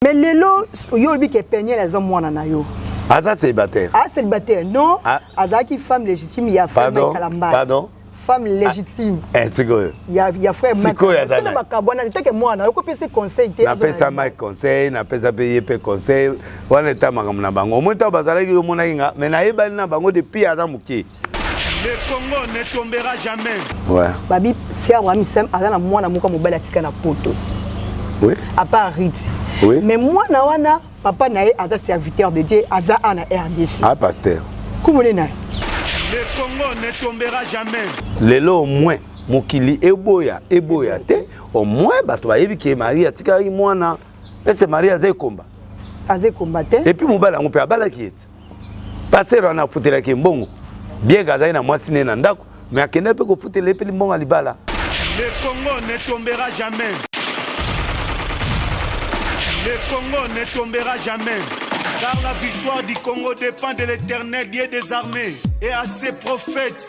mais lelo yo olobi ke peniel aza mwana na yo aza célibataire aza ah, célibataire non ah. azalaki femme légitime ya famikalambapardon femme légitime ah. eh, sikoyo ya, ya frère sikoyo aza na makambo wana etake mwana ayokopesi conseil te napesa mike conseil napesa mpe ye mpe conseil wana eta makambo na bango omoni ntango bazalaki omonaki nga mais nayebani na bango depuis aza moke Le Congo ne tombera jamais. Ouais. Babi, c'est Abraham Sam, aza na mwana moko mobali atika na poto. Oui. À part Rite. Oui. Mais mwana wana papa na ye aza serviteur de Dieu, aza ana RDC. Ah pasteur. Kumone na. Le Congo ne tombera jamais. Lelo au moins mokili eboya eboya te au moins bato bayebi ke marie atikaki mwana ese marie aza ekomba aza ekomba te epuis mobali yango mpe abalaki ete pasteur wana afutelaki ye mbongo bien azali na mwasi ne na ndako me akenda mpe kofutela ye mpe limbongo ya libala le congo ne tombera jamais le congo ne tombera jamais car la victoire du congo dépend de l'éternel dieu des armées et à ses prophètes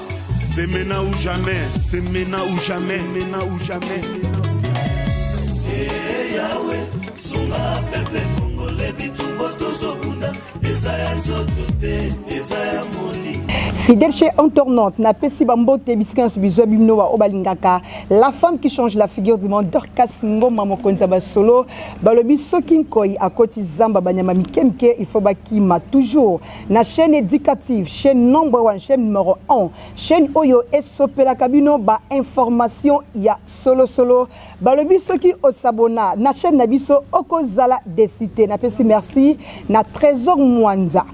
C'est maintenant ou jamais, c'est maintenant ou jamais, maintenant ou jamais. Hey, Yahweh, sunga peuple congolais bitumbo tozobunda eza ya nzoto te eza ya molimo fidèle chez entornante napesi bambote bisika nyonso bizwa bino baoyo balingaka la femme qui change la figure du monde dorcas ngoma mokonzi ya basolo balobi soki nkoi akoti zamba banyama mike mike il faut bakima toujours na chaîne éducative chaîne number one chaîne numéro 1 chaîne oyo esopelaka bino ba information ya solosolo balobi soki osabona na chaîne na biso okozala desite napesi merci na trésor mwanza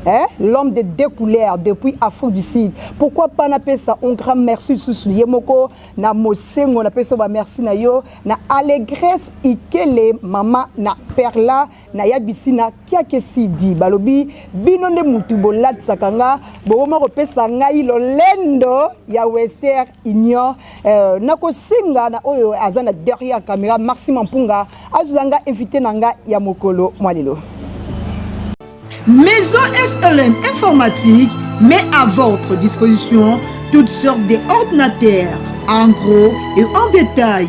Hein? l'homme de deux couleurs depuis Afrique du Sud. Pourquoi pas na pesa un grand merci sous yemoko na mosengo na pesa ba merci na yo na allégresse ikele maman na perla na ya bisina kiake sidi balobi bino nde mutu bolatisaka nga bokoma kopesa ngai lolendo ya wester union euh, nakosenga na oyo aza na derrière camera maxi mampunga azwa nga invité na nga ya mokolo mwa lelo maison slm informatique met à votre disposition toutes sortes d'ordinateurs en gros et en détail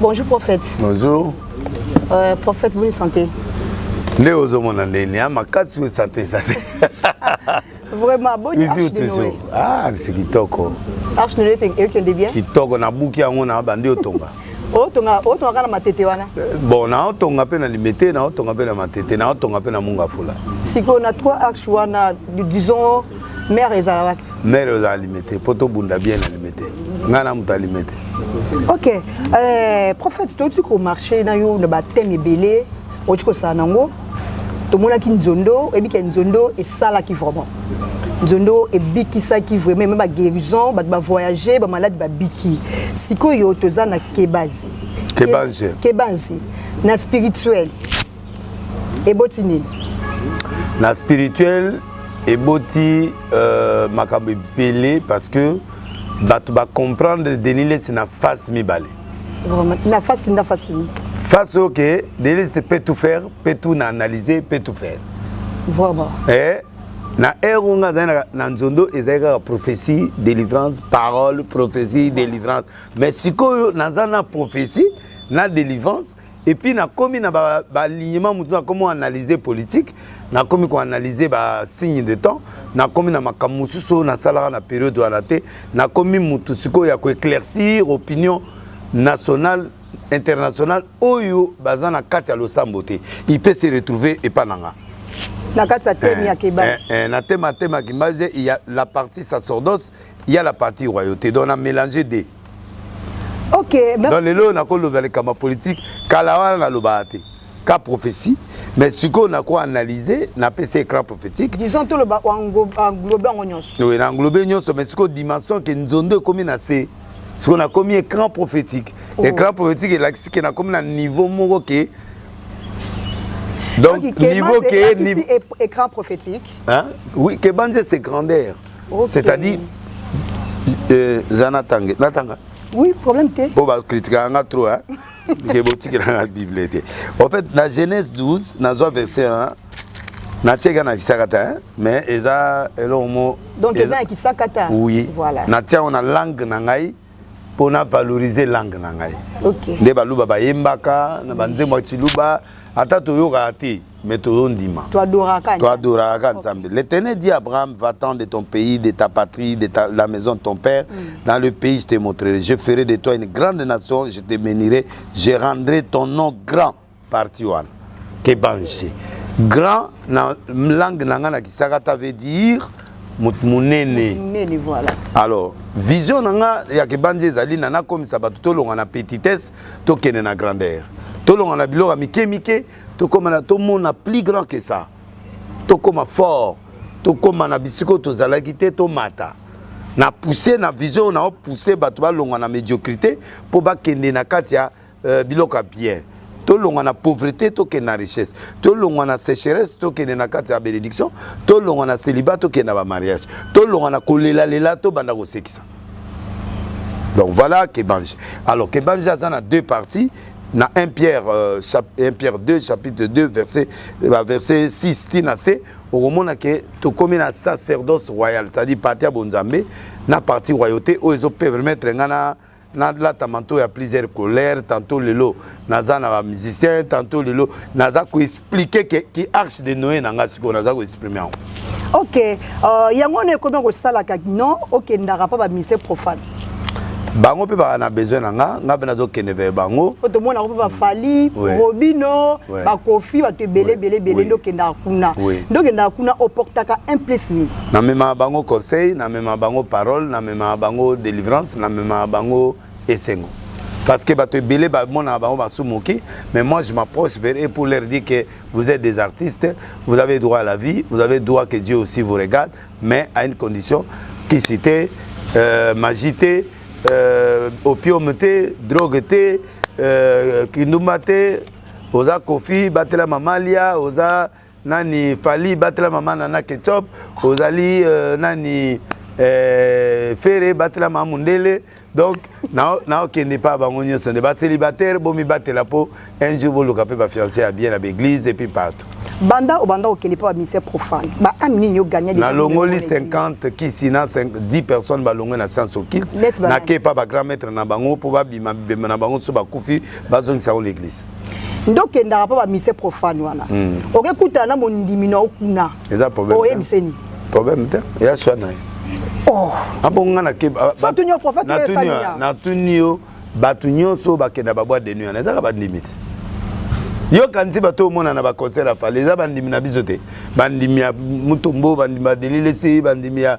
Bonjour prophète. Bonjour. Euh, prophète, bonne santé. nde ozomona nde nia makasi oyo sante eza te vraiment boni toujours toujours ah c'est kitoko arche noye mpe ekende bien kitoko nabuki yango na bandi otonga otonga otonga kana matete wana eh, bon na otonga pe na limete na otonga pe na matete na otonga pe na munga fula siko na trois axes wana disons mère ezala wapi mère ezala limete po to bunda bien na limete nga na muta limete ok euh, prophète to tu ko marcher na yo na ba thème ebele otikosala nango tomonaki nzondo oyebi ke nzondo esalaki vraiment nzondo ebikisaki vraiment eme baguérison bato bavoyage bamaladi babiki sikoyo toza na kebazi kebanzi kebanzi na spirituel eboti nini na spirituel eboti euh, makambo ebele parce que bato bacomprendre denis lesi na face mibale Vraiment, na face nda face ni. Face ok, Delise peut tout faire, peut tout na analyser, peut tout faire. Vraiment. Eh, na heure oyo ngai azali na nzondo ezali kaka prophétie délivrance parole prophétie délivrance mais sikoyo naza na prophétie na délivrance et puis nakomi na balignement ba motu nakomi analyse politique nakomi koanalyse basigne de temps nakomi na makambo mosusu oyo nasalaka na periode wana te nakomi motu sikoyo ya koeclaircir opinion nationale internationale oyo baza na kati ya losambo te il peut se retrouver epa na nga na kati ya teme ya eh, kebasi eh, eh, na teme ya teme ya kebasi il y a la partie sacerdoce il y a la partie royauté donc na mélange de Ok, merci. Donc lelo na ko loba le kama politique kala wana na loba te. Ka prophétie mais ce qu'on a quoi analyser na PC écran prophétique. Disons tout le ba englobe en nyonso. Oui, na englobe nyonso mais ce qu'on dimension que nzondo comme na c'est ce qu'on a commis écran prophétique. Oh. Écran prophétique et là ce qu'on a comme na niveau moko que donc, niveau que niveau écran prophétique. Hein? Oui, que c'est grandeur. okay. c'est à dire euh, za natange natanga oui problème te mpo bakritikaka nga trop hein? ke botikela nga bible te en fait na genèse 12 nazwa verset hein? natiaki na kisakata hein? mais eza eloko mo donc eza na kisakata oui voilà. natiango na langue na ngai mpo na valoriser langue na ngai okay. nde baluba bayembaka na banzembo ya ciluba ata toyokaka te mais tozondima toadoraka ka nzambe l'éternel dit abraham va-t'en de ton pays de ta patrie de ta, la maison de ton père mm. dans le pays je te montrerai je ferai de toi une grande nation je te bénirai je rendrai ton nom grand parti wana ebange grand na langue na ngai na kisakata veut dire moto monene alors vision na nga ya kebanzi ezali na nakomisa bato tolonga na petitesse tokende na grandeur tolonga na biloko ya mike mike tokóma na tomona plus grand que ça tokóma fort tokóma na bisiko tozalaki te tomata na pousse na vision na opousse bato balonga na médiocrité mpo bakende na kati ya euh, biloko ya bien tolongwa na pauvreté tokende na richesse tolongwa na sécheresse tokende na kati ya bénédiction tolongwa na célibat tokende na bamariage tolongwa na kolelalela tobanda kosekisa donc voilà kebange alors kebange aza na deux parties na 1 pierre, euh, 1 pierre 2 chapitre 2 verset, euh, verset 6 ti na se okomona ke tokomi na sacerdoce royal c'est-à-dire parti ya bonzambe na parti royauté oyo ezopermettre ngai na nalata manto ya plusieurs colère tantôt lelo naza na bamusicien tantôt lelo naza koexplike ke ki arche de noye na ngai sikoyo naza koexprime yango ok uh, yango wana ekomi kosalaka non okendaka mpo bamusicien profane bango mpe baka na besoin na nga nga mpe nazokende veye bango po tomonaka mpe bafali robino bakofi bato ebele ebele ebele nde okendaka kuna nde okendaka kuna oportaka un place nini namemaka bango conseil namemaka bango parole namemaka bango délivrance namemaka bango esengo parce que bato ebele bamonaka bango basumuki mais moi je m'approche vers eux pour leur dire que vous êtes des artistes vous avez droit à la vie vous avez droit que Dieu aussi vous regarde mais à une condition kisi te euh, magie te euh, opium te drogue te euh, kindumba te oza kofi batela mamalia oza nani fali batela mama nana ketchup ozali euh, nani euh, fere batela mama mundele donc naokende na mpa bango nyonso nde bacélibataire bomibatela mpo un jour boluka mpe bafiance ya bien na baeglise et puis partout banda obanda okende mpo baministère profane baami nini yo gagna nalongoli 50 kisi na 10 personnes balongwe na science occulte nake epa bagrand maître na bango mpo babima bibemba na bango so bakufi bazongisa yango l'église nde okendaka mpo bamise profane wana hmm. oke kutana na mondimi na yo kuna oyebiseni problème te ya swa na ye oh. abonga natuni yo bato nyonso bakenda babwa de nuit wana ezaka bandimi te yo kanisi bato omona na baconcert ya fale eza bandimi na biso te bandimi ya mutombo bandimi ya delilesi bandimi ya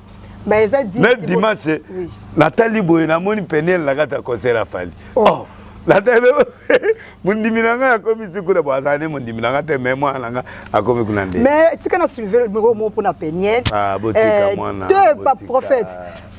Ba eza dit. Mais dimanche oui. natali boye namoni Peniel na kata concert ya Fally. Oh. oh. natali mondimi na ngai akomi sikuna bo azali mondimi na ngai te mais mwana na ngai akomi kuna nde mais tika na suive moko moko mpona peniel ah, botika eh, mwana te pa prophète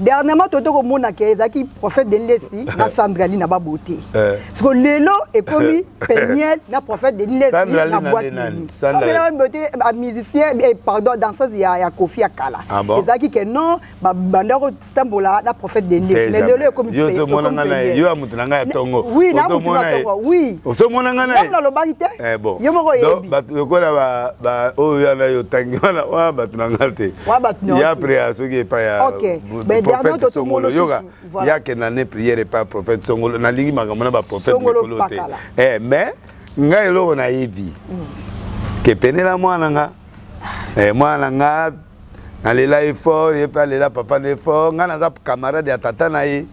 dernièrement tote komona ke ezalaki prophète denilesi na sandrali na babote eh. siko lelo ekomi peniel na prophète denilesi na boite nini sambela oyo te ba musicien eh, pardon danseuse ya ya Kofi ya kala ah bon? ezalaki ke non ba banda ko stambola na prophète de Dieu mais lelo ekomi yo zo mona nga na yo ya mutu na nga ya tongo oui na mutu na tongo oui ozo mona nga na na lobaki te eh bon yo moko yebi ba lokola ba ba oyo ya na yo tangi wana wa ba tuna nga te wa ba tuna ya après ya soki pa ya okay mais dernier to to mona yoga ya ke na ne prière pa prophète songolo na lingi makambo na ba prophète mikolo te eh mais nga eloko nayebi kepenela mwana nga eh, mwana nga nalela ye fort ye mpe alela papa na ye fort ngai naza camarade ya tata na ye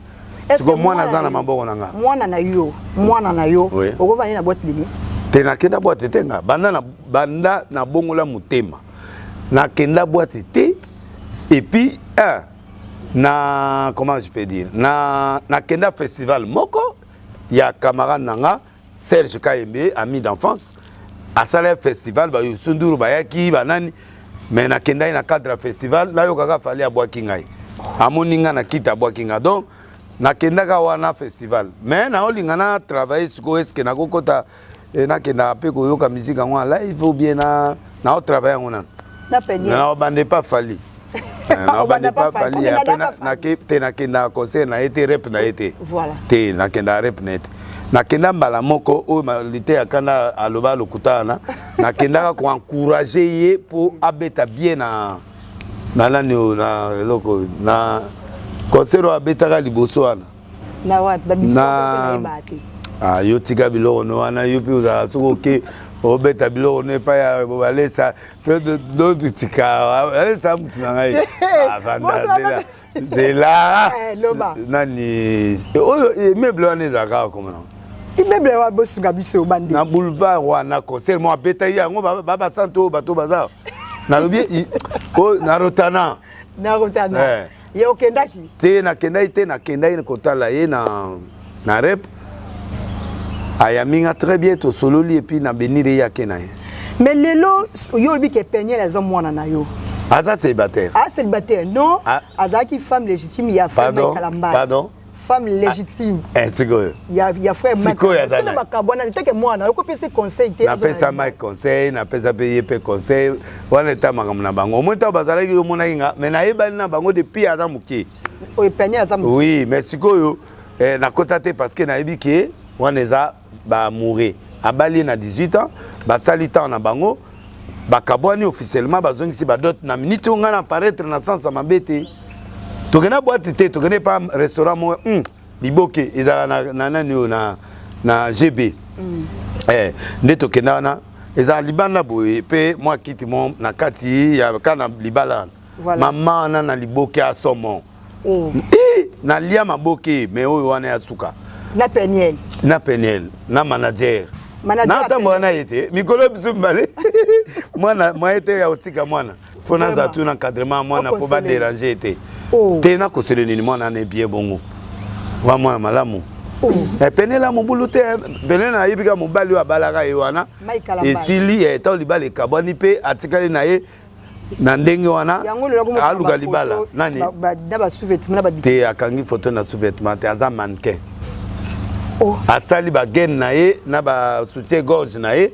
siko mwana aza na maboko na nga mwana na yo mwana na yo okovandi na boite demi te nakenda boite te nga banda na banda nabongola motema nakenda boite te epuis un na comment je peux dire na nakenda festival moko ya camarade na nga Serge Kayembe ami d'enfance asala festival ba Youssou Ndour bayaki banani mais nakendaki na cadre ya festival nayokaka fali abwaki ngai amoni ngai na kiti abwaki ngai donc nakendaka wana festival mais naolinga na travaille sikoyo eske nakokota eh, nakendaka mpe koyoka miziki yango na live ou bien naotravaille yango nano naobanda epa fali nabandi pa fali ape nake te nakendaka concert na ye te rep na ye te te nakendaka rep na ye te nakenda mbala moko oyo malite ya kanda aloba lokuta wana nakendaka koencourage ye mpo abeta bien na na nani oyo na eloko na concert oyo abetaka liboso wana na wapi babisate ah, yo tika biloko no wana yo mpe ozala soki oke obeta biloko no epai ya bobalesa dotikaaesa mutu na ngai avandazela zela nani oyo emeuble wana ezalaka kaka koma nango immeuble oyo abosunga biso bande na boulevard wana concert mo abeta ye yango babasanto oyo bato baza nalobi na rotana na rotana Ye okendaki? Te nakendaki te, nakendaki kotala ye na na rep ayambi nga très bien tosololi epuis na benire ye ake na ye mais lelo yo olobi ke peniel aza mwana na yo aza célibataire aza ah, célibataire non ah. azalaki femme légitime ya femme kalambala pardon femme ah, légitime eh, sikoyo ya, ya frère sikoyo azana makambo wana eteke mwana okopesi conseil te napesa mike conseil napesa mpe ye mpe conseil wana eta makambo na bango omoi ntango bazalaki yo omonaki nga mais nayebani na bango depuis aza moke oyo peniel aza moke oui mais sikoyo eh, nakota te parce que nayebi ke wana eza ba amoureux abali ye na 18 ans basali temps na bango bakabwani officiellement bazongisi badote na minute oyo ngai na paraitre na sansa mabe te tokenda bwati te tokende pa restaurant moko mm, liboke ezala na, na nani oyo na, na gb mm. eh, nde tokenda wana ezala libanda boye mpe mwa kiti mo na kati ya ka na libala wana voilà. mama wana na liboke ya somo oh. Eh, na lia maboke mais oyo wana ya suka na peniel na peniel na manager natambola na ye te mikolo biso mibale mwana mwaye te ya kotika mwana mpo naza tu na encadrement ya mwana mpo baderange ye te oh. te nakosele nini mwana ana ebie bongo wa mwana malamu oh. eh, penela mobulu te penela ayebi kaka mobali oyo abalaka ye wana esili eh, ntango libala ekabwani mpe atikali na ye na ndenge wana aluka libala nani te akangi foto na sous-vêtement te aza mannequin oh. asali bagene na ye na basoutien gorge na ye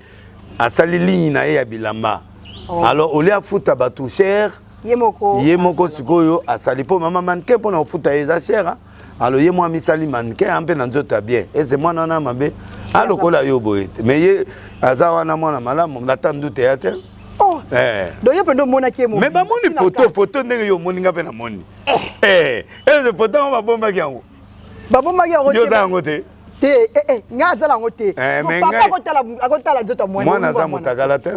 asali ligne na ye ya bilamba oh. alors olie afuta bato cher ye moko sikoyo asali mpo mama mannequin mpo na kofuta ye eza cher alo ye mwa amisali manke ya mpe na nzoto ya bien ese mwana wana mabe alokola yo boye te mais ye aza wana mwana malamu nata ndute ya te oh. eh. donc yo mpenza omonaki emo mais bamoni foto foto ndenge yo omoni nga mpe namoni eh. eh. ese foto yango babombaki yango babombaki yango te te eh, eh, ngai azala yango te eh, papa akotala nzoto ya mwana aza motakala te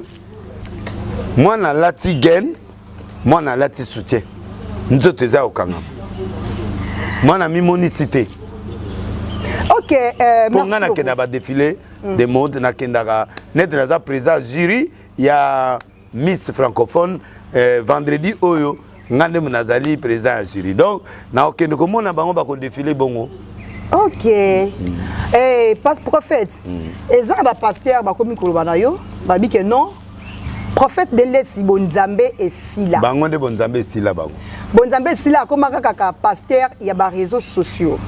mwana alati gen mwana alati soutien nzoto eza kokangama mwana mimonisi te ok euh, mpo ngai nakenda badefile mm. de mode nakendaka nete naza président jury ya miss francophone eh, vendredi oyo nga nde nazali président ya jury donc nakokende komona bango bakodefile bongo ok mm. hey, eh, pas prophète mm. eza na bapaster bakomi koloba na yo babi ke non prophète de lesi bonzambe esila bango nde bonzambe esila bango bonzambe sila akoma kaka ka pasteur ya ba réseaux sociaux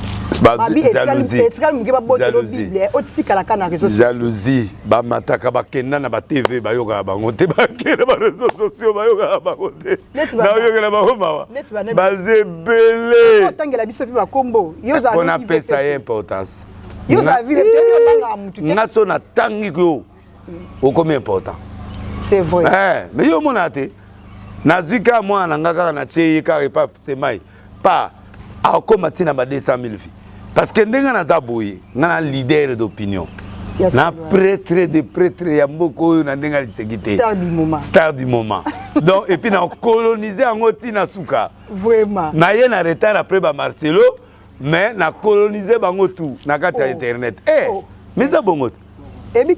babi etikali moke babotelo bible otikala ka na réseau jalousie bamataka bakenda na batv bayokaka bango te bakenda ba réseau sociaux bayokaka bango te naoyokela bango mawa baza ebele otangela biso mpe bakombo yozapona pesa ye importance nga so natangi yo okomi important c'est vrai eh, mais yo omonaka te nazwi kaka mwana na ngai kaka natie ye kaka epa semai pa akoma ntina ba 200 000 vie parce que ndenge naza boye ngai na leader d'opinion na pretre de pretre ya mboka oyo na ndenge aliseki te star du moment donc epuis na colonise yango ntina suka naye na retard après ba marcelo mais na colonise bango tout na kati ya oh. internet eh, oh. miza bongo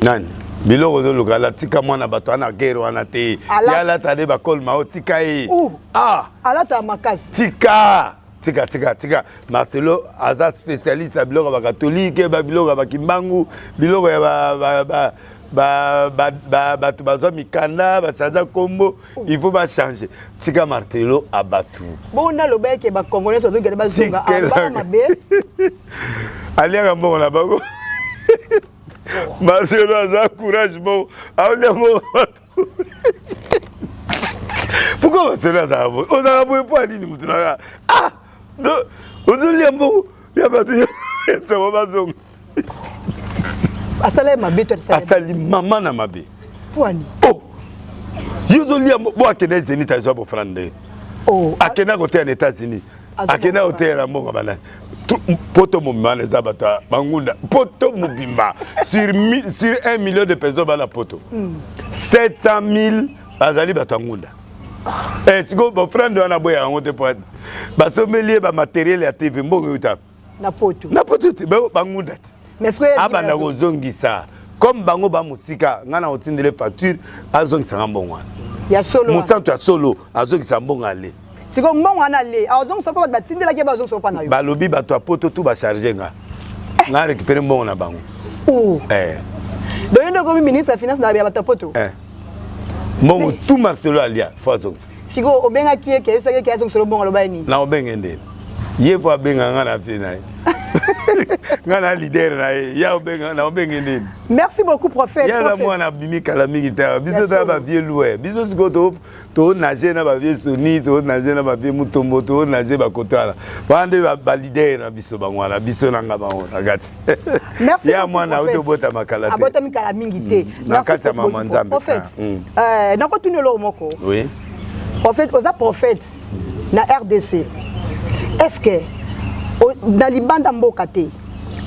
nani biloko ozoluka alatika mwana bato ana gere wana te ye alata nde bakole mao tika ye ah. alata makasi tika tika tika tika marcelo aza spécialiste ya biloko ya bakatolike biloko ya bakimbangu biloko ya bato bazwa mikanda basanza nkombo il faut ba changer tika martelo abatu bon na loba yake ba congolais ozo gade ba zonga ba mabe aliaka mbongo na bango martelo aza courage bon aolia mbongo pourquoi martelo azaka boye ozaka boye mpo ya nini motu naka ah ozolia mbongo ya bato ya bango bazonga asala ye mabe to asali mama na mabe pwani oh yo ozolia bo akenda zenit azwa bofana nde oh. akenda koteya na états-unis akenda koteyela mbongo bana poto mobimba wana eza bato ya bangunda poto mobimba sur 1 million de personnes bana poto 700 hmm. 000 bazali bato ya ngunda eh, sikoyo bofrande wana boyaka yango te po basombeli ye bamateriele ya tv mbongo euta na poto na poto te bangunda te abanda kozongisa comme bango ba mosika ngai na kotindele facture azongisa nga mbongo wana ya solo mosantu ya solo azongisa mbongo ale sikoyo mbongo wana ale azongisa mpo bato batindelaki ye bazongisa mpo na yo balobi bato ya poto tu bacharge nga nga récupere mbongo na bango oh. eh. donc yo nde okomi ministre ya finance na ya bato ya poto eh. mbongo tu marcelo alia fo azongisa sikoyo obengaki ye ke ayebisaki ye ke azongisela obongo aloba ye nini na obenge nde ye po abenga nga na vie na ye nga na leader na ye ya obenga na obenge nini merci beaucoup prophète ya la mwana bimi kala mingi ta biso ta ba vieux louer biso siko to to nager na ba vieux soni to nager na ba vieux mutombo to nager ba kotala bande ba leader na biso bangwana biso na nga bango na kati ya mwana auti obotama kala te abotami kala mingi te mm. na kati ya mama nzambe prophète ah, mm. eh, nakotuni eloko moko oui prophète oza prophète na rdc est ce que na libanda mboka te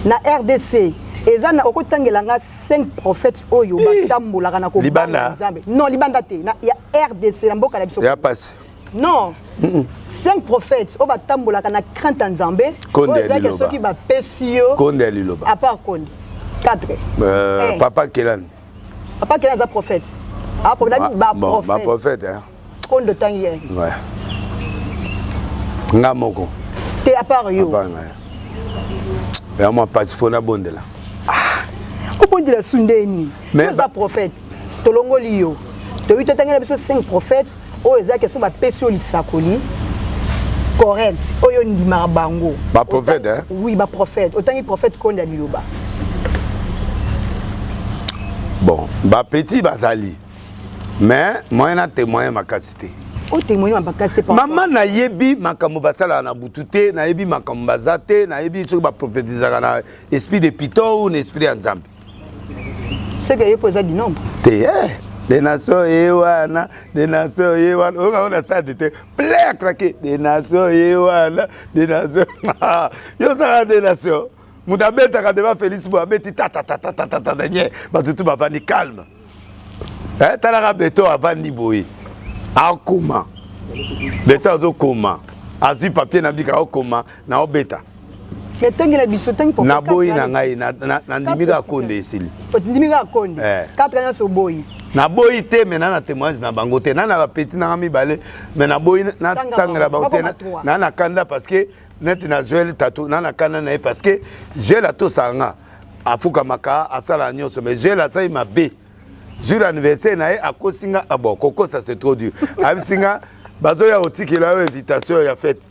na rdc eza na okotangela nga 5 prophètes oyo batambolaka na kobanga nzambe non libanda te na ya rdc na mboka na biso ya pasi non cinq prophètes oyo batambolaka na crainte ya nzambe oyo ezalaki soki bapesi yo konde ya liloba apart konde quatre euh, eh. papa kelani papa kelani aza prophète baprophète ah, konde otangi ye nga moko te apart yo yango mpasi fo nabondela ah, obondela su nde nini oza prophète tolongoli yo toyebi totangi na biso 5 prophète oyo eza keso bapesi oyo lisakoli correct oyo ndimaka bango baprophète eh? oui baprophète otangi prophète konda liloba bon bapetit bazali mais moyen na témoigne makasi te otemoigne oh, makasi te mama nayebi makambo basalaka na butu te nayebi makambo baza te nayebi soki baprofetizaka na esprit de piton ou na esprit ya nzambe seke ye mpo eza dinombre te eh, de nation ye wana de nation ye wana oyoka ngo na stade te plein akrake de nation ye wana de nation yo osaka de nation moto abetaka deba félix boye abeti tatatatatata nye bato tu bavandi calme eh, talaka beto avandi boye akoma beto azokoma azwi papier na bika okoma na obeta etengela biso ntangi naboyi na ngai nandimi kaka konde esili ndimi kaka konde 4 eh. nyonso oboyi naboyi te me na na témoignage na bango te na na bapeti nanga mibale me naboyi natangela bango te na na kanda parce que neti na joel tatu na nakana na ye parce que joel atosaka nga afukamaka asalaka nyonso mais joel asali mabe jour anniversaire na ye akosi nga ah bon kokosa c'est trop dur ayebisi nga bazoya kotikela yo invitation ya fete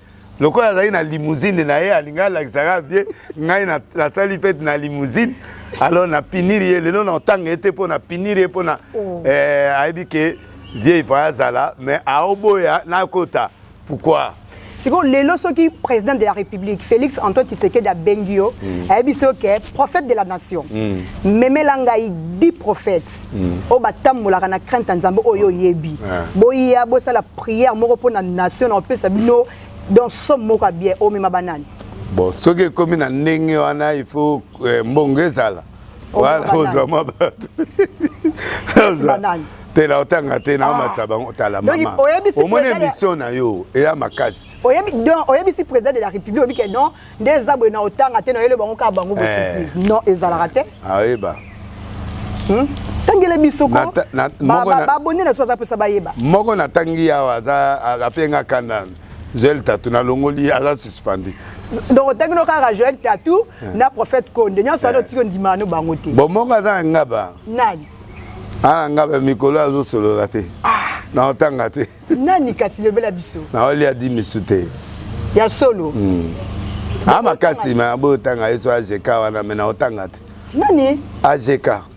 lokola azali na limousine na ye alingi alakisaka vie ngai nasali fete na limousine alors napiniri ye lelo naotanga ye te mpo napiniri ye mpo na oh. eh, ayebi ke vieux ifaya azala mais aoboya nakota pourquoi sikoyo lelo soki président de la république félix antoine tshisekedi abengi yo mm. ayebi so ke prophète de la nation mm. memela ngai di prophète mm. oyo batambolaka na crainte ya nzambe oyo oyebi boya bosala prière moko mpo na nation na kopesa bino donc somme moko ya bien omema banani bon soki ekomi na ndenge wana il faut eh, mbongo ezala wana ozwa mwa bato te na otanga te na omatisa ah. bango otala mama omoni émission na yo eya makasi oyebisi président de la république oyebi ke non nde eza boye na otanga te na oyele bango kaka bango bosurprise eh. non ezalaka te ayeba hmm? tangele biso kobabone na so aza mposa bayeba moko natangi yawa aza apenga kanda Joël Tatou na longoli aza suspendu. Donc tangi no kaka Joël Tatou eh. na prophète Konde nyanso ado eh. tiko ndima no bango te. Bon monga aza ngaba. Nani? Ah ngaba mikolo azo solola te. Ah. Na otanga te. Nani kasi lobela biso? Na oli a dit misu te. Ya solo. Hmm. Ah makasi ma bo tanga yeso AJK wana mena otanga te. Nani? AJK.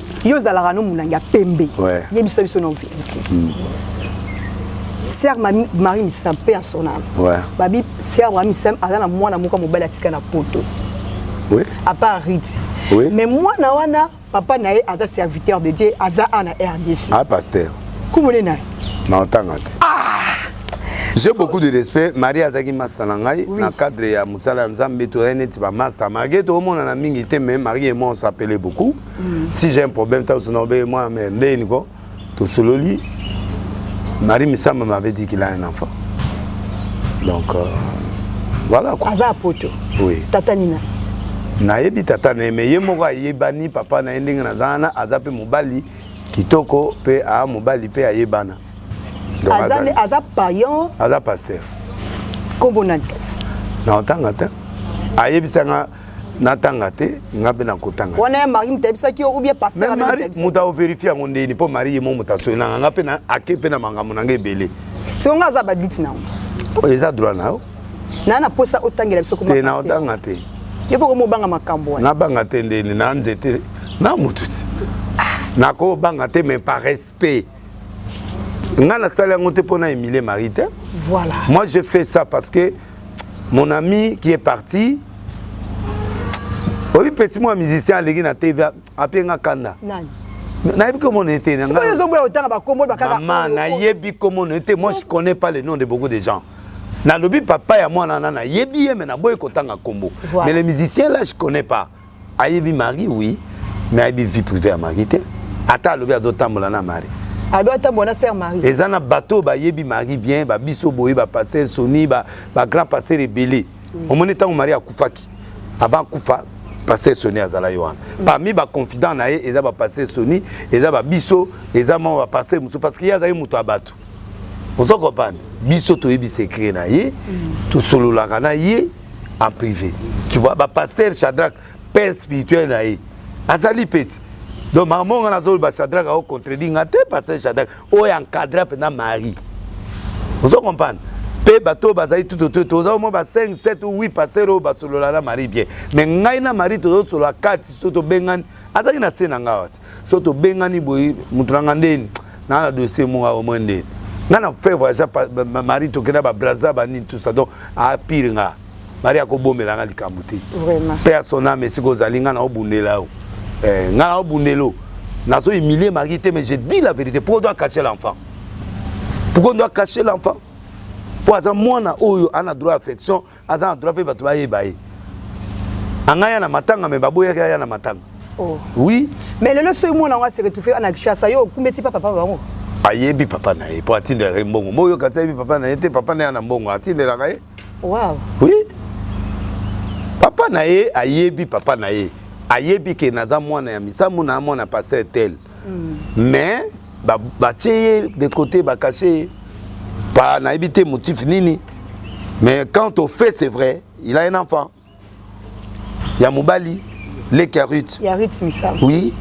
yo ozalaka no molangi ya pembe ouais. yebisa biso non verité mm. ser mami marie misam mpe ya sonam ouais. babi ser marie misam aza na mwana moko ya mobali atika na poto oui. à part rite oui. mais mwana wana papa na ye aza serviteur de dieu aza a na rdc ah, pasteur kumone na ye na otanga te ah! j'ai beaucoup de respect marie azalaki masta na ngai oui. na cadre ya mosala ya nzambe tozali neti bamasta malgré toomonana mingi te mais marie et moi on s'appelait beaucoup mm. si j'ai un problème ntango sona obeye mwana me ndeni ko tosololi marie misamba m'avait dit qu'il a un enfant donc euh, voilà quoi aza poto oui tata nina nayebi tata na ye me ye moko ayebani papa na ye ndenge naza wana aza mpe mobali kitoko mpe aa mobali mpe ayebana aza payan aza paster kombo nani kasi na otanga te ayebisanga natanga te nga mpe nakotanga wana ya marie moto ayebisaki yo oubien pastermari moto aoverifie yango ndeni mpo marie ye mo moto asoi nanga nga mpe na ake mpe na makambo na nga ebele soko nga aza baduti na yango oyo eza droit na yo naa na mposa otangela biso te naotanga te yo mpo komobanga makambo wana nabanga te ndeni na nzete na motu te ah. nakobanga te mais paresse P. Nga na sala yango te pona Emilie Marie te. Voilà. Moi je fais ça parce que mon ami qui est parti oyebi petit mwa musicien aleki na tv ape nga kanda nayebi komona ete mama nayebi komona ete moi je connais pas le nom de beaucoup de gens nalobi papa ya mwana na nayebi ye me naboyi kotanga nkombo mais le musicien là je connais pas ayebi mari oui mais ayebi vie privée ya mari te ata alobi azotambola na mari ado atambola na ser mari eza na bato oyo bayebi mari bien babiso boye bapaster soni bagrand paster ebele omoni ntango mari akufaki avant akufa paster soni azalaki wana mm. parmi baconfident na ye eza bapaster soni eza babiso eza mwa bapaster mosusu parce que ye azalaki moto ya bato ozo comprendre biso toyebi secret na ye mm. tosololaka na ye en privé tu vois ba pasteur Shadrach père spirituel na ye azali pete donc makambo nga nazoloba Shadrach ao contredit nga te pasteur Shadrach oyo encadra mpenza Marie ozo comprendre mpe bato oyo bazali tutoto toza omoi ba 5 7 ou 8 pasteur oyo basolola na marie bien mais ngai na marie tozosolola kati so tobengani azalaki na se na ngai wati so tobengani boye moto na nga ndeni naa na dossier monga au moins ndeni nga na faire voyage mari tokenda babraza banini tout ça donc apire nga mari akobomela nga likambo te mpe ya son ame esika ozali nga naobundela yo eh, nga naobundelo nazo humilie mari te mais je dis la vérité pourquoi doit cacher l'enfant pourquoi doit cacher l'enfant mpo aza mwana oyo ana droit affection aza na droit mpe bato bayeba ye anga ya na matanga me baboyaki aya na matanga oh. oui mais lelo soki mwana yango aseretufe ana kishasa yo okumbeti pa papa bango ayebi papa na ye mpo atindelaka ye mbongo mbo oyoka ti ayebi papa na ye te papa na ye na mbongo atindelaka ye wow. oui papa na ye ayebi papa na ye ayebi ke naza mwana ya misamu na mwana pasteur tel mais batie ye de côté bakase ye pa nayebi te motif nini mais quand au fait c'est vrai il a un enfant ya mobali leki ya rut ya rut misala oui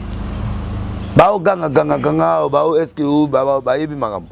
baogangagangaganga bao eske bayebi makambo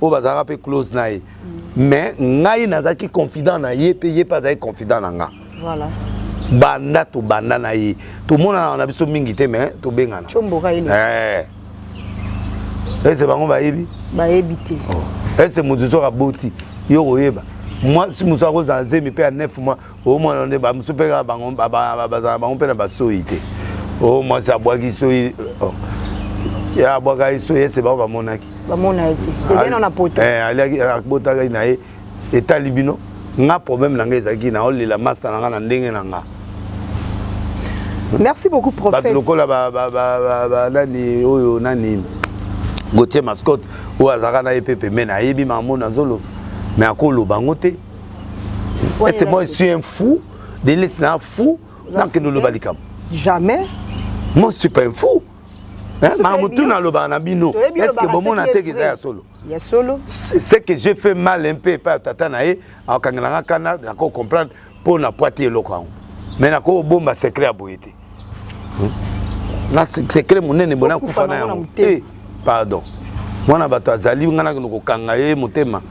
oyo bazalaka mpe close na ye mais ngai nazalaki confident na ye mpe ye mpe azalaki confident na nga voilà. banda tobanda na ye tomonana na biso mingi te mais tobengana eh. ese bango bayebi bayebi te oh. ese moto soki aboti yo koyeba mwasi mosusu akozala zemi mpe ya 9 mois omwana nde bamosusu mpe kaka bango bazala bango mpe na basoyi te o mwasi abwaki soyi oh. ya abwaka ye soyi ese bango bamonaki bamona ye te ezali na na poto eh, aliaki abotaka ye na ye etali bino nga problème na ngai ezalaki na olela masta na nga na ndenge na nga merci beaucoup prophète bato lokola ba, ba, ba, ba, ba, nani oyo nani gautier mascotte oyo azalaka na ye mpe pembeni ayebi mamono azoloba me akoloba yango te est ce moi je suis un fou delesi na fou nakende oloba likambo jamais moi je suis pas un fou ma mutu nalobaka na bino estce bomona te eza ya solo ya solo ce que j'ai fait mal un peu epai tata na ye akangela nga kana nako comprendre mpo na pwati eloko yango mai nakobomba secret ya boye te na sekre monene bona kufa na yango eh, pardon mwana bato azali ngai nakende kokanga ye motema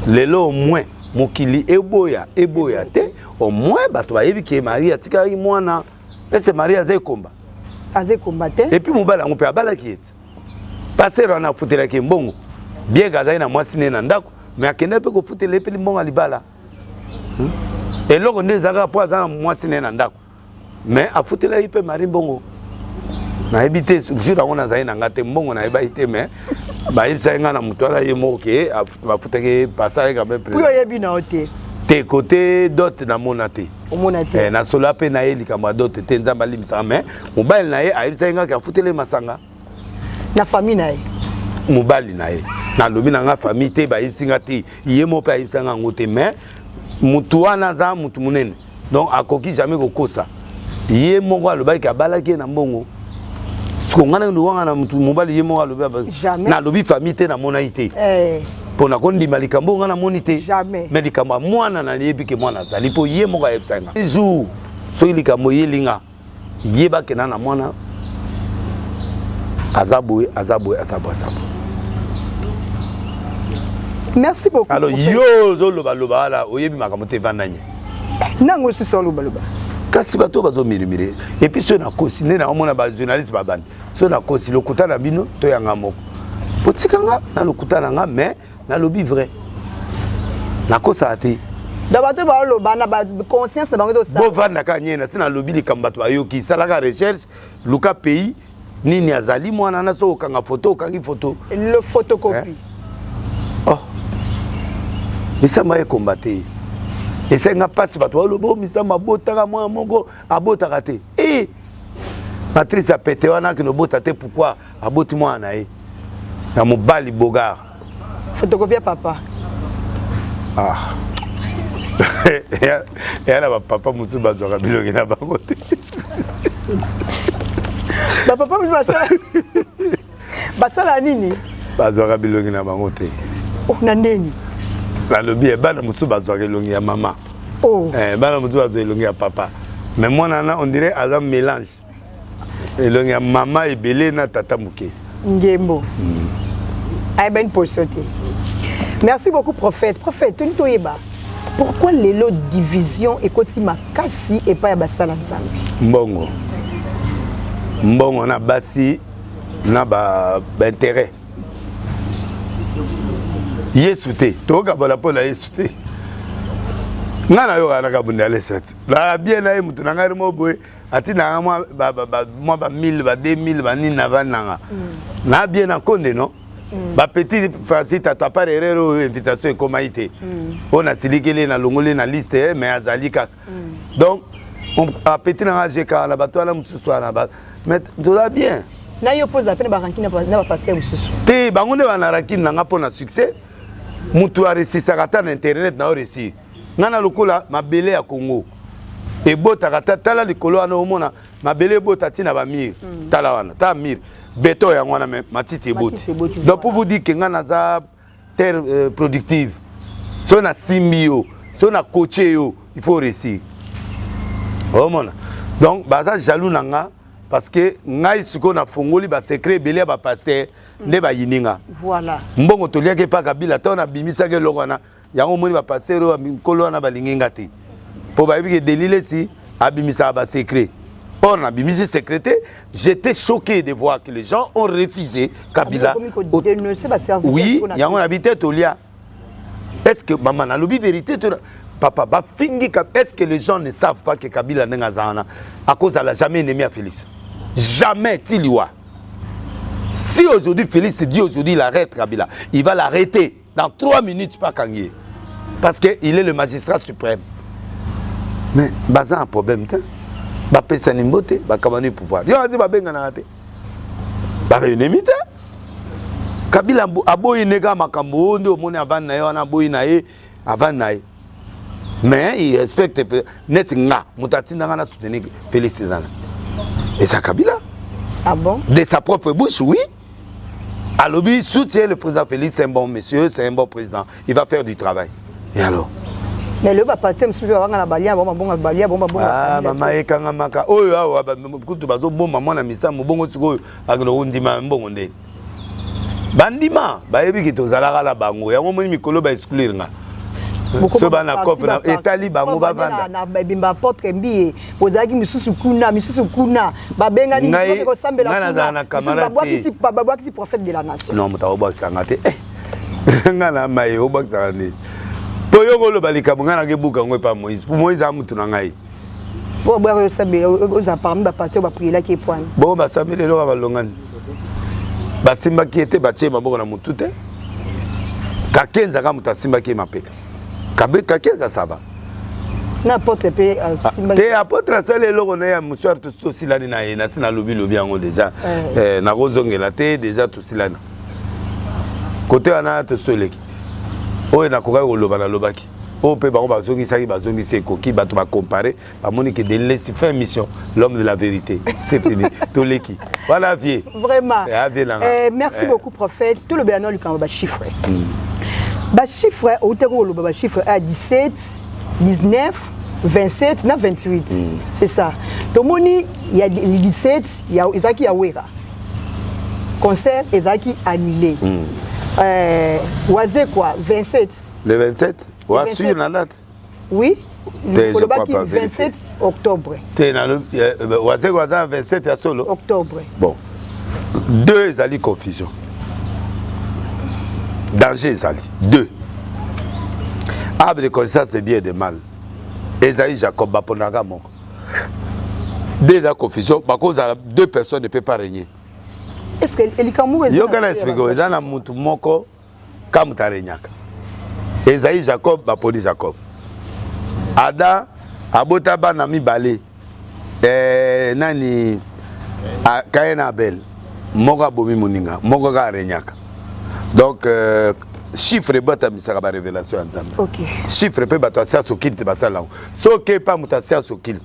lelo omwe mokili eboya eboya te omwe bato bayebi ke marie atikaki mwana ese marie aza ekomba aza ekomba te epuis mobali yango mpe abalaki ye te pasere wana afutelaki ye mbongo bien ke azali na mwasi ne na ndako me akendaki mpe kofutela ye mpe limbongo ya libala hmm? eloko nde ezalaka mpo aza na mwasi ne na ndako mais afutelaki mpe marie mbongo nayebi te jour yango nazali na nga te mbongo nayebaki te mais bayebisaki nga na moto wana ye moko ke bafutaki pasaki quand même oyo oyebi na yo te te kote dote namona te omona te eh, nasola mpe na ye likambo ya dote te nzambe alimbisaka mais mobali na ye ayebisaki ngaki afuteli masanga na famille na ye mobali na ye nalobi na nga famille te bayebisi nga te ye moko mpe ayebisaki nga yango te mais motu wana aza motu monene donc akoki jamais kokosa ye moko alobaki ke abalaki ye na mbongo siko ngai nalobanga na motu mobali ye moko alobi nalobi famille te namonaki te eh. mpo na kondima likambo oyo ngai namoni te mais likambo ya mwana nayebi ke mwana azali mpo ye moko ayebisaki ngai jour soki likambo eyelinga yeba ke na na mwana aza boye aza boye aza boye aza boye merci beaucoup alors yo ozoloba loba wala oyebi makambo te evanda nye nango osusu oloba loba kasi bato oyo bazomirimire epuis soki nakosi nde naomona bajournaliste babandi soki nakosi lokuta na bino toyanga moko botika nga na lokuta na nga mais nalobi vrai nakosaka te na bato baoloba na baconscience na bango bovanda kaka nie na se nalobi likambo bato bayoki salaka recherche luka pays nini azali mwana na soki okanga foto okangi foto le photocopie eh? oh misamba ekomba te esenga mpasi bato baoloba o oh, misamba abotaka mwana moko abotaka te e eh! matrice ya pete wana akende obota te pourkui aboti mwana na ye na mobali bogar fotokopia papa ah eya na bapapa mosusu bazwaka bilongi na bango te bapapa mosusu basala basala nini bazwaka bilongi na bango te oh, na ndeni nalobi bana mosusu bazwaka elongi ya mama oh. eh, bana mosusu bazwa elongi ya papa mais mwana na on dirait aza mélange elongi ya mama ebele na tata moke ngembo mm. ayeba une position te merci beaucoup prophète prophète toni toyeba pourquoi lelo division ekoti makasi epai ya basala nzambe mbongo mbongo na basi na baintérêt ba yesu te tokokabola mpo na yesu te ngai nayokanaka bundalesati na bien na ye moto na ngai mo boye ati nanga mwa ba, ba, ba, mwa ba 1000 ba 2000 ba nini na vandi nanga mm. na bien na konde no mm. ba petit Francis tatu à part erreur oyo invitation ekomaki te mm. oyo nasilikeli na longoli na liste eh, mais azali kaka mm. donc ba petit nanga jeka na bato wana mosusu wana ba mais toza bien na yo mpo ozala mpe na barankine na bapaster mosusu te bango nde bana rankine nanga mpo na succès moto aresisaka ata na internet na yo resi nga na lokola mabele ya congo ebotaka ta tala likolo wana omona mabele ebota ti na bamire mm. tala wana ta mire beton yango wana me matiti eboti donc pour vous dire ke nga naza terre euh, productive soki nasimbi yo soki nakotie yo il faut réussir omona donc baza jaloux na nga parce que ngai sikoyo nafongoli basecret ebele ya bapaster nde bayini nga mbongo toliaki epa kabila ntango nabimisaki eloko wana yango omoni bapastere oyo mikolo wana balingi nga te mpo bayebi ke delilesi abimisaka basecret or nabimisi secret te j'étais choqué de voir que les gens ont refusé kabila oui yango nabi te tolia est ce que mama nalobi vérité to papa bafingi est ce que les gens ne savent pas que kabila ndenge aza wana akozala jamais ennemi ya félix jamais ti liwa si aujourd'hui félix dit aujourd'hui il arrête kabila il va l'arrêter dans 3 minutes bakangi ye parce que il est le magistrat suprême mais baza na problème te bapesani mbote bakabani pouvoir yo azi babenganaka te barenemi te kabila aboyi nde kaka makambo oyo nde omoni avandi na ye wana aboyi na ye avandi na ye mais il respecte neti nga moto atinda nga na soutenir félix ezana eza kabila ah bon? de sa propre bouche oui alobi soutien le président félix c'est un bon monsieur c'est un bon président il va faire du travail et alors mais le bapaster mosusu mpe babanga na balia bango babonga balia bango babonga mama ah, ekangamaka oyo awa kutu bazobomba mwana misamu bongo sikoyo akende kondima mbongo ndeni bandima bayebi ke tozalaka na bango yango omoni mikolo ba exclure nga so bana cope etali bango bavanda bozalaki misusu kuna misusu kuna babengani misusu kosambela kuna babwakisi babwakisi prophète de la nation non moto akobwakisa nga te eh, nga na maye obwakisaka nini mpo yo koloba likambo ngai nakebuka yango epa moïse mpo moïse aa motu na ngai oyo boyaka yosambela oza parmi bapaster baprielaki epwana bongo basambeli eloko balongani basimbaki ye te batie maboko na motu te kakenzaka moto asimbaki ye mapeka kabe kakeza sava na apotre mpe euh, ah, asimbaki te apotre asali eloko na ye ya mosuare tosi tosilani na ye nasi nalobilobi yango deja eh. Eh, nakozongela te deja tosilani kote wana tosi toleki oyo nakokaki koloba nalobaki oyo mpe bango bazongisaki bazongisi ekoki bato bakompare bamoni ke de laisse fin mission l'homme de la vérité c'est fini toleki voilà vie vraiment eh, vie nanga eh, merci eh. beaucoup prophète tolobela na likambo ba chiffre mm. ba chiffre outaki koloba ba chiffre a 17 19 27 na 28 mm. c'est ça tomoni ya 17 ya ezalaki ya wera concert ezalaki annulé mm. euh, wazekwa 27 le 27 wasur na date Oui. Te, je crois pas. 27 octobre. Te, na, eh, eh, wazeko aza 27 ya solo. Octobre. Bon. Deux ezali confusion. Danger ezali. Deux. Arbre de connaissance de bien et de mal. Ezali Jacob baponaka moko. Deux ezali confusion. Bakozala deux personnes ne peut pas régner. Est-ce que elikambo ezali? Yo kana expliquer eza na mutu moko Kam tarenyaka. Esaïe Jacob baponi Jacob. Ada abota bana mibale. Eh, nani ah, Cain na Abel. Moko abomi moninga, moko kaka arenyaka. Donc euh, chiffre ebatamisaka barevelation ya nzambe okay. chiffre mpe bato ya sianse okilte basala yango soki epa moto ya sianse okilte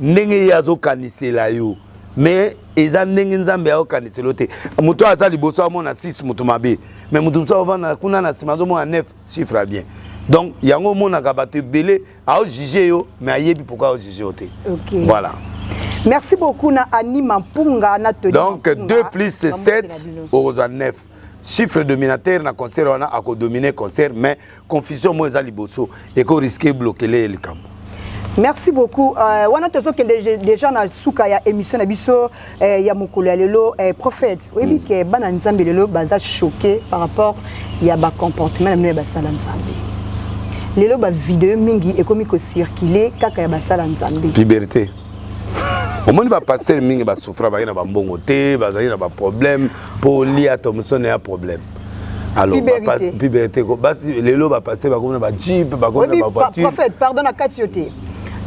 ndenge ye azokanisela yo mais eza ndenge nzambe aokanisela yo te moto aza liboso amona 6 moto mabe mais moto mosusu aovanda kuna na nsima azomona 9 chiffre ya bien donc yango omonaka bato ebele aojuge yo mais ayebi pourkui aojuge yo te okay. voilà merci beaucoup na anima mpunga na toli donc 2 plus 7 okozwa 9 chiffre dominateur na concert wana akodomine concert mais confusion moi eza liboso eko risque blokele likambo merci beaucoup euh, wana tozokende déjà na suka ya émission na biso euh, ya mokolo ya lelo euh, prophète oyebi mm. ke bana nzambe lelo baza choqué par rapport ya bacomportement na bino ya basala nzambe lelo bavideo mingi ekomi kocircule kaka ya basala nzambe puberté omoni bapastere mingi basufra baye na bambongo te bazali na baproblème mpo lia thomson ya problème alopiberte lelo bapasse bakomi na bajeep bakomi na bavoitureprophète pardon na kati yo te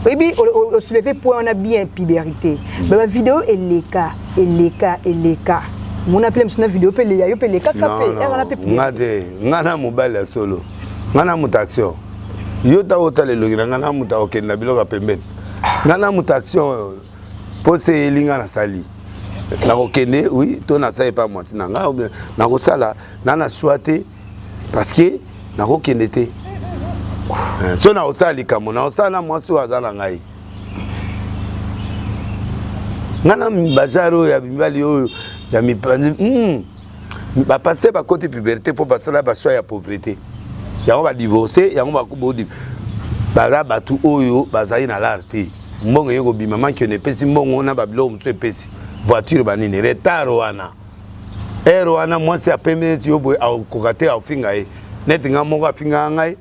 oyebi osouleve point wana bien piberité hmm. ba bavideo eleka eleka eleka mona mpe mosu na video mpe leya yo mpe elekaka mpe wana mpe nga te nga na mobali ya solo nga na moto action yo ntango otala elongi na nga na moto akokende na biloko ya pembeni nga na moto action mpo se eyeli ngai nasali nakokende oui to nasala epai mwasi na ngai obien nakosala na na swa te parce que nakokende te eh, so nakosala likambo nakosala na mwasi oyo aza na ngai ngai na bazar oyo ya mibali oyo ya mipanzi hmm. ba pasteur ba koti puberté po basala ba choix ya pauvreté yango ba divorcer yango ba bodi baza batu oyo bazali na lar te mbongo eye kobima manki ono epesi mbongo na babiloko mosusu epesi voiture banini retard wana ere wana mwasi apembe neti yo boye akoka te afinga ye neti ngai moko afingaka ngai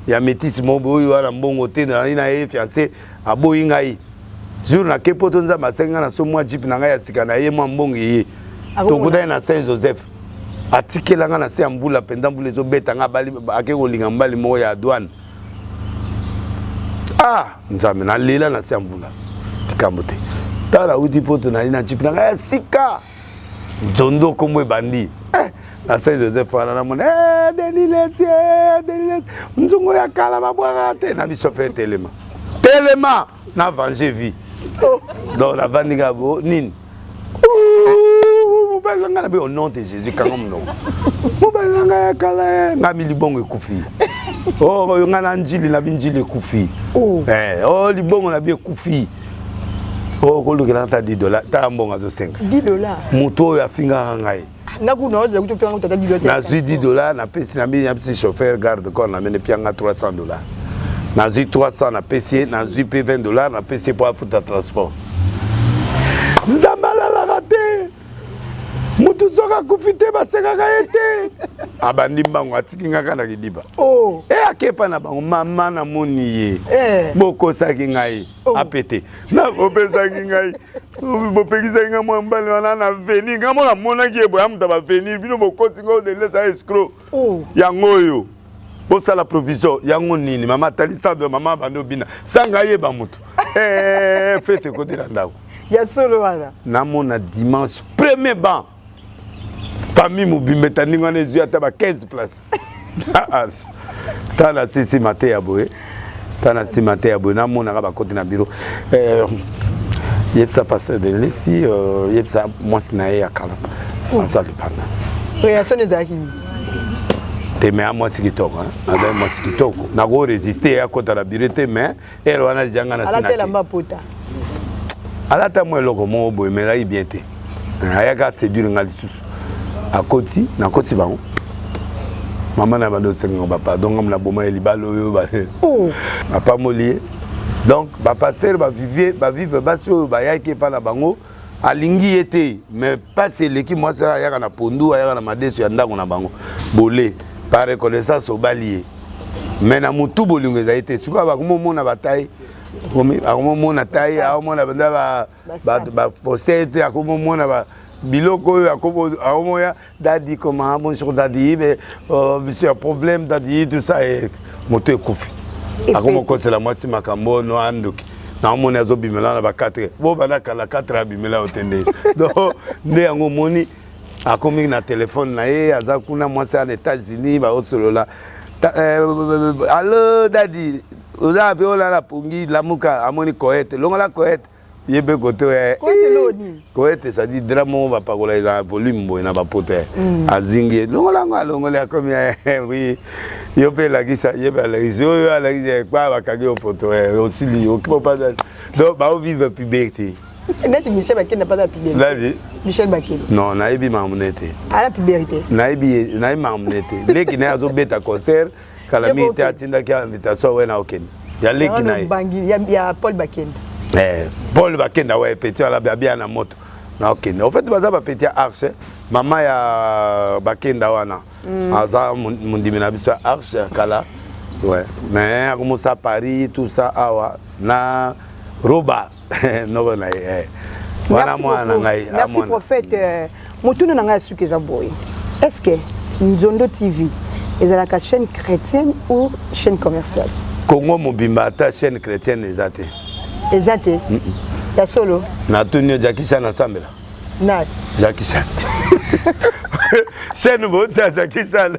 ya metisi mobo oyo wana mbongo te nazali na ye fiance aboyi ngai jour nake poto nzambe asengi ngai na so mwa jipe na ngai ya sika na ye mwa mbongo eye tokutani na saint joseph atikela ngai na se ya mvula mpenza mvula ezobeta ngai ake kolinga mobali moko ya douane ah nzambe nalela na se ya mvula likambo te tala auti poto nali na jipe na ngai ya sika Dzondo kombo ebandi. Eh, na Saint Joseph wana na mona eh Denis Lessie, eh, Denis Lessie. Nzungu ya kala babwaka te na biso fe telema. Telema na venger vie. Oh. Donc la vandiga bo nini? mobali na ngai na be au nom de jésus kanga monoko mobali na ngai ya kala eh, ngai milibongo ekufi oyo oh, ngai na njili na binjili ekufi oh. eh, oyo oh, libongo na bi ekufi Oh, kolukela ata 10 dollars ta mbongo azosenga 10 dollars moto oyo afingaka ngai nazwi 10 dollars napesi na mbini napesi chauffeur garde corps namene pianga 300 dollars nazwi 300 napesi ye nazwi mpe 20 dollars napesi ye mpo afuta transport nzambe alalaka te mutu soki akufi te basekaka ye te abandi mbango atiki nga kaka na kidiba oh. e akepa na bango mama namoni ye eh. bokosaki ngai oh. apete bopesaki ngai bopekisaki ngai mwa mbali wana na veni ngai mona amonaki ye boya moto ya baveni bino bokosi ngai odelesa escro oh. yango oyo bosala provision yango nini mama talisa do mama bando bina sanga yeba moto eh, fete kodela ndako ya solo wana namona dimanche premier ban famille mobimba etandingi wana ezwi ata ba 15 place tala sisi mateya boye ta na nsima te ya boye namonaka bakoti na biro eh, yebisa pasteur denlesi euh, yebisa mwasi na ye ya kala françois lipanda reaction ezalaki nini te me ya mwasi kitoko azali mwasi kitoko nako resiste ye akota na biro te me ere wana ejanga na alata elamba pota alata mwa eloko moko boye me ezalaki bien te ayaka aseduire nga lisusu akoti nakoti bango mama na bando osengaka bapardon ngambo naboma ye libala oyo oh. apamoli ye donc bapastere bavive bavive basi oyo bayaki epai na bango alingi ye te mais mpasi eleki mwasi ayaka na pondu ayaka na madeso ya ndako na bango bole par reconnaissance obali ye mais na motu bolingo ezali te sikoyo bakomomona batai akomomona tai akomona banda bato bafosete akomomona ba biloko oyo akomoya dadi koma bonjour dadi be oh, monsieur problème dadi tout ça e moto ekufi akomokosela mwasi makambo oyo no andoki naomoni azobimela na ba 4 bo banda kala 4 abimela yo te nde donc nde yango omoni akomi na telefone na ye aza kuna mwasi ya na états-unis baosolola eh, allo dadi oza wapi olala pongi lamuka amoni koete longola koete ye mpe kote oya koete ezali dra moko bapakola eza volume boye na bapoto ya mm. azingi ye longola yango alongoli akomi wi yo mpe elakisa ye mpe alakisi yo yo alakisi ekpa bakangi yo foto osili okipa mpasa donc baovive puberté neti michel bakenda mpasa puberté michel bakeli non nayebi makambo na ye te ala puberté nayebi makambo na ye te leki na ye azobeta concert kala mingi te atindaki ya invitation wena okende ya leki na ye ya paul bakenda eh, paul bakenda we petit wana abia na moto na okende en fait baza bapeti ya arche mama ya bakenda wana mm. aza mondimi na biso ya arche ya kala ouais. mais akomosa paris tout ça awa na roba noko na ye eh. wana mwana na ngai ah, merci prophète euh, motuna na ngai ya suki eza boye est ce que nzondo tv ezalaka chaîne chrétienne ou chaîne commerciale congo mobimba ata chaîne chrétienne eza te eza te ya solo natuni yo jakishan asambela na jakishan chaîne boti ya jakishan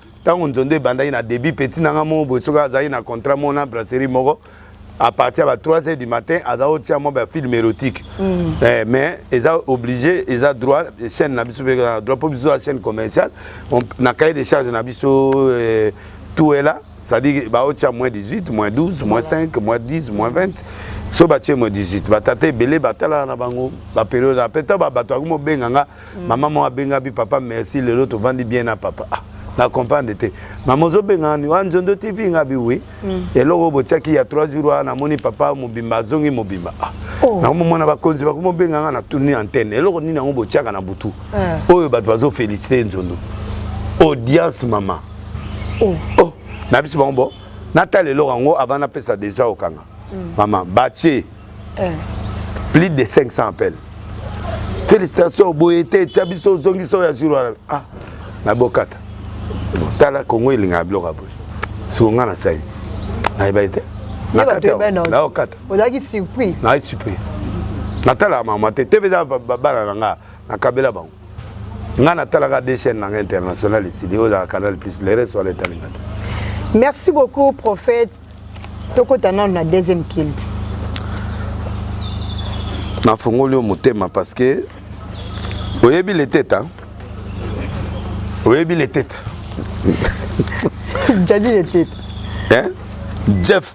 ntango nzondo ebandaki na début petit na nga moko boye soki azalaki na contrat moko na brasserie moko à partir ya ba 3 heures du matin aza otia mwa ba film érotique mm. eh, mais eza obligé eza droit chaîne na biso mpe eza na droit mpo biso ya chaîne commerciale na cahier de charge na biso eh, tout est là c'est-à-dire baotia moins 18 moins 12 moins 5 moins 10 moins 20 so batie moins 18 batata ebele batalaka na bango baperiode ape ntango babato yango mobenga nga mm. mama moko abenga bi papa merci lelo tovandi bien na papa ah, na comprendre te mama ozobenga nani wa nzondo tv nga bi oui mm. eloko oyo botiaki ya 3 jours wana namoni papa mobimba azongi mobimba ah. oh. nango momona bakonzi bakoma obenga nga na tourni antenne eloko nini yango botiaka na butu eh. oyo bato bazofelicite nzondo audience mama oh. oh. na biso bango bo natala eloko yango avant napesa deja okanga mm. maman batie eh. plus de 500 appels félicitations boye te tya biso ozongisa oyo ya jour wana ah na bokata tala kongo elingaka biloko ya boye siko ngai nasali nayebaki te nakataokata ozalaki surpris nayi surpris natalaka mama te te peza bana na ngai nakabela bango ngai natalaka de chaîne na ngai international esili oyo ezalaka canal plus le reste wana etalinga te merci beaucoup prophète tokota nano na deuxième kilt nafongoli yo motema parce que oyebi leteta oyebi leteta jadi leteta eh? jeff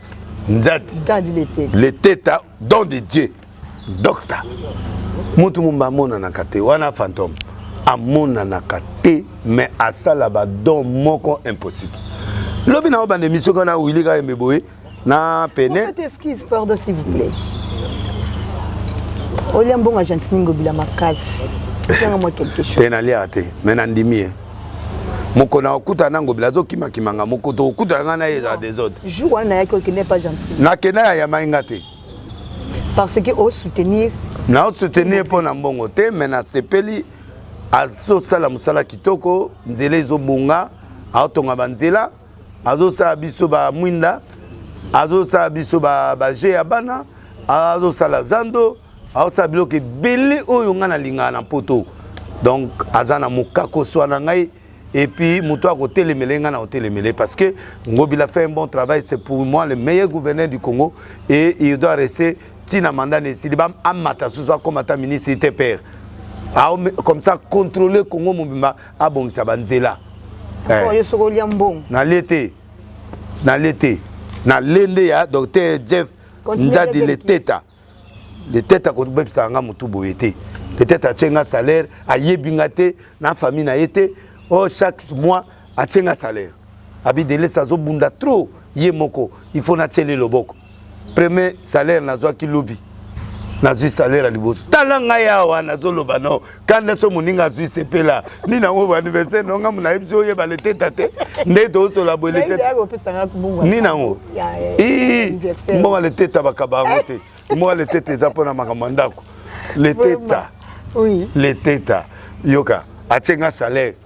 njati jadi leteta leteta don de dieu docteur mutu mumba amonanaka te wana fantome amonanaka te mais asala badon moko impossible lobi na obanda emission kaka na wili kaka yembe boye na pene excuse pardon s'il vous plaît olia mbongo argentini ngobila makasi te naliaka te me nandimi ye moko na okuta na ngobila azokimakimanga moko tokokutana ngai na ye ezala desordre nakenda ya yamai nga te parce que o soutenir na o soutenir mpo na mbongo te mais nasepeli azosala mosala kitoko nzela ezobonga aotonga banzela azosala biso bamwinda azosala biso baje ya bana azosala zando aosala biloko ebele oyo ngai nalingaka na mpoto donc aza na mokakoso na ngai et puis moto ya kotelemele ngai na kotelemele parce que ngobila fait un bon travail c'est pour moi le meilleur gouverneur du congo et il doit rester ntina manda na esili amata susu akoma ata ministre te père comme ça contrôler congo mobimba abongisa banzela eh. nalie te nalie te na lende ya docteur jeff nzadi leteta letete akobebisaka nga motu boye te letete atie nga salaire ayebi nga te na famille na ye te o oh, chaque mois atie nga salaire abidelesi azobunda trop ye moko il faut natiele loboko premier salaire nazwaki lobi nazwi salaire ya liboso tala ngai awa nazoloba no kanda so moninga azwi sepela nini yango baaniversaire na ngambo na yebisi oyeba leteta te nde toosola boye leteta nini yango mbonga leteta bakaba yango te mbonga leteta eza mpo na makambo ya ndako leteta leteta yoka atie nga salaire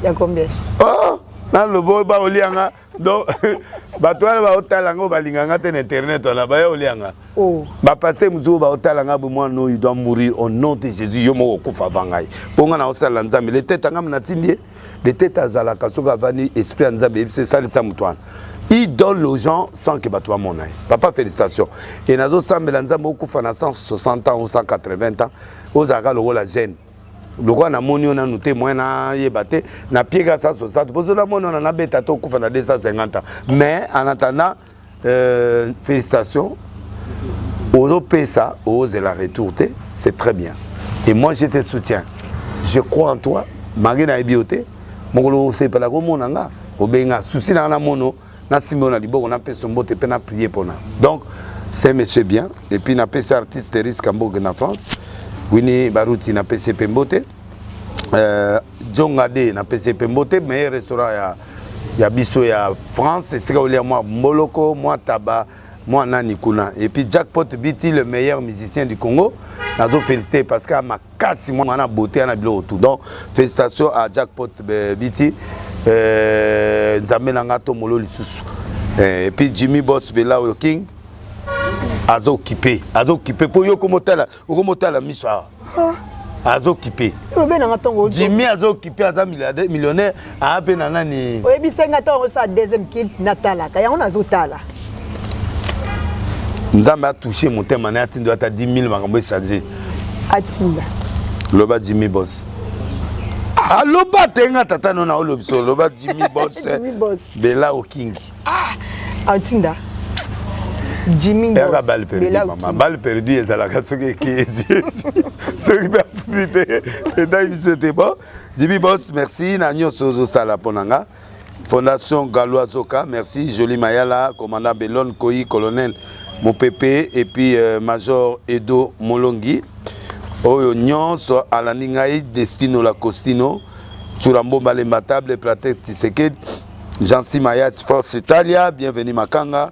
ya combien oh, nalobo baolia nga donc bato wana baotala yango balinga nga te na internet wana baya olia nga oh. bapaster mosusu oyo baotala nga bo mwana oyo doit mourir au nom de jésus yo moko okufa ava ngai mpo ngai naosalela nzambe letete angami natindi ye letete azalaka soki avandi esprit ya nzambe eyebisi esalisa moto wana il donne aux gens sans que bato bamona ye papa félicitation e nazosambela nzambe okufa na 160 ans ou 180 ans ozalaka lokola jeune lokola namoni yo nanu te moyen nayeba te na pieka sa sosate pozo namoni ona nabeta to okufa na 250 mais en attendant euh, félicitations ozopesa ozela retour te c'est très bien et moi je te soutiens je crois en toi malgré nayebi yo te mokolo osepelaka omona nga obenga susi nanga na mono na simbo na liboko na peso mbote pe na prier pona donc c'est monsieur bien et puis na pesi artiste risque mboge na France Winnie Baruti na pesi pe mbote euh, Jonga de na pesi pe mbote meilleur restaurant ya ya biso ya France esika olia mwa mboloko mwa taba mwa nani kuna et puis Jackpot Biti le meilleur musicien du Congo nazo féliciter parce que makasi mwana na beauté ya na biloko tout donc félicitation à jackpot euh, biti euh, nzambe na nga to molo lisusu euh, et puis jimmy boss bela oyo king azo okipe azo okipe mpo yo okomotala okomotala miso awa azo okipe jimmy azo okipe aza millionnaire aa ah, mpe na nani oyebisa nga ntango osala deuxième kilt natalaka yango nazotala nzambe atouche motema naye atindo ata 10 000 makambo echange atinda loba jimmy bos aloba ah, te nga tata no na olobisa oloba jimmy bos bela okingi ah, atinda yaka bale perdu mama bale perdu ezalaka soki eki ezwi soki mpe afundi te etai biso te bon JB Boss, merci na nyonso ozosala mpo na nga. Fondation Galois Zoka, merci. Jolie Mayala, commandant Belon Koi, colonel Mopepe, et puis euh, major Edo Molongi. Oyo nyonso alandi ngai Destino la Costino, Churambo Malemba Table, Platet Tisekedi, Jansi Mayas Force Italia, bienvenue Makanga.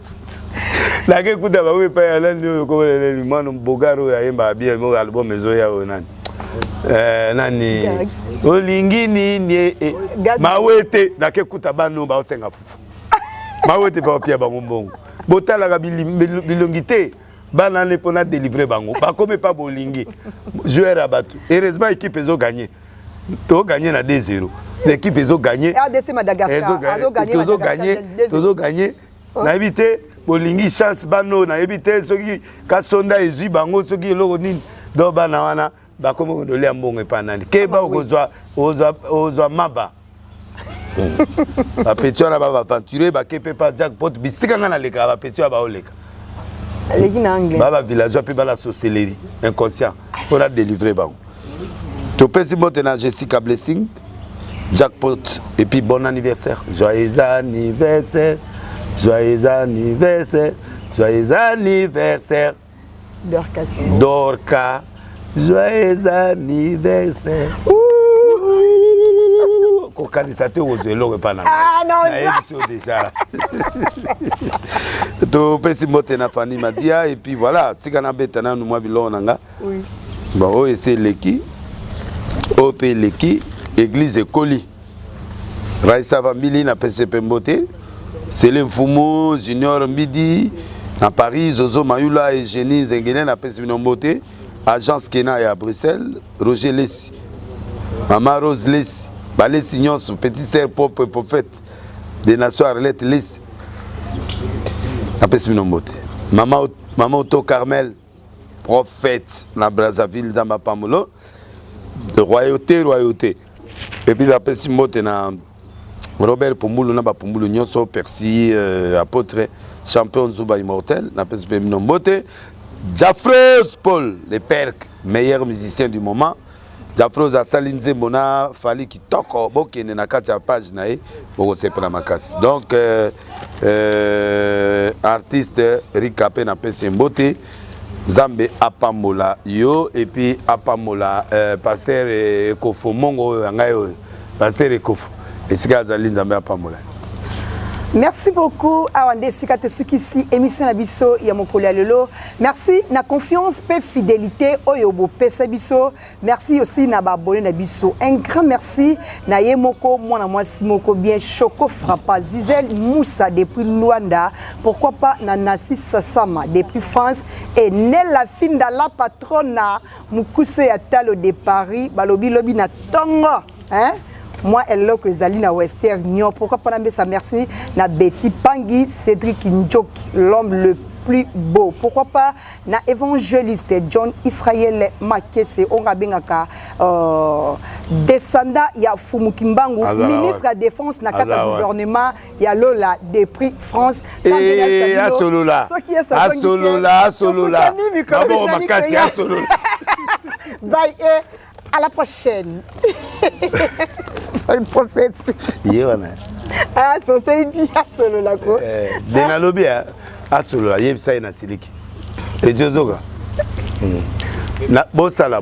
nake kuta bango epai ya nani oyo komona nani mwana bogar oyo ayembaka bien moko album ezoya oyo nani eh, nani olingi nini eh, eh. mawete nake kuta bano baosenga fufu mawete baopia bango mbongo botalaka bilongi te bana ne mpo na delivre bango bakomi epa bolingi joueur ya bato heureusement équipe ezo gagne toganye na 2 0 l'équipe ezo gagner ah, ezo gagner tozo gagner oh. nayebi te bolingi chance bana oyo nayebi te soki kasonda ezwi bango soki eloko nini donc bana wana bakomi kodolia mbongo epai nani keba okozwa ozwa maba bapeti wana babaventure bake mpe pa jackpot bisika ngai nalekaka bapeti oyo baoleka aleki na anglais baba villageois mpe bala socellerie inconscient mpona delivre bango topesi mbote na jessica blessing Jackpot et puis bon anniversaire. Joyeux anniversaire. Joyeux anniversaire. Joyeux anniversaire. Dorcas. Dorcas. Joyeux anniversaire. kokanisa te okozwa eloko epai na nayebisi yo deja topesi mbote na fani madia epuis voilà tika nabeta nanu mwa biloko na nga oui. bon oyo esi eleki oyo mpe eleki eglize ekoli raisa vambili na pese mpe mbote sele mfumu junior mbidi na paris zozo mayula egenie zengele na pese bino mbote agence kena ya bruxelles roger lesi mama rose lesi balesi nyonso petit ser propre prophète de nation arlette lesi napesi bino mbote mama oto carmel prophète na Brazzaville nzambe apamolo royauté royauté epuis bapesi mbote na Robert Pumbulu na bapumbulu nyonso Percy euh, apôtre champion Zuba immortel napesi mpe bino mbote Jafros Paul le Perk meilleur musicien du moment Jafros asali nzembo na Fally kitoko bokende na kati ya page na ye bokosepela makasi donc euh, euh, artiste Rika mpe napesi mbote Zambe apambola yo epuis apambola euh, pasteur Ekofomongo oyo ya ngai oyo Pasteur Ekofo, esika azali Nzambe apambola. Merci beaucoup awa nde esika tosukisi émission na biso ya mokolo ya lelo merci na confiance mpe fidélité oyo bopesa biso merci aussi na baabone na biso un grand merci na ye moko mwana mwasi moko bien choco frappa zizel moussa depuis luanda pourquoi pas na nasi sasama depuis france et nella finda la patrona mokuse ya talo de paris balobi lobi na tongo hein? mwa eloko ezali na wester nio pourkui mpona mbesa merci na beti pangi cédrik njoki l'homme le plus beau pourquoi pas na évangéliste john israel makese oyo abengaka euh, descendant ya fumu kimbangu ministre ya défense na kati ya gouvernement ya lola de prix france eh, asolola asolola asolola maboko makasi asolola bye e à la prochaine prophète ye wana asoseli bi asolola ko eh, de nalobi eh, asolola yebisa ye na siliki ezozoka hmm. bosala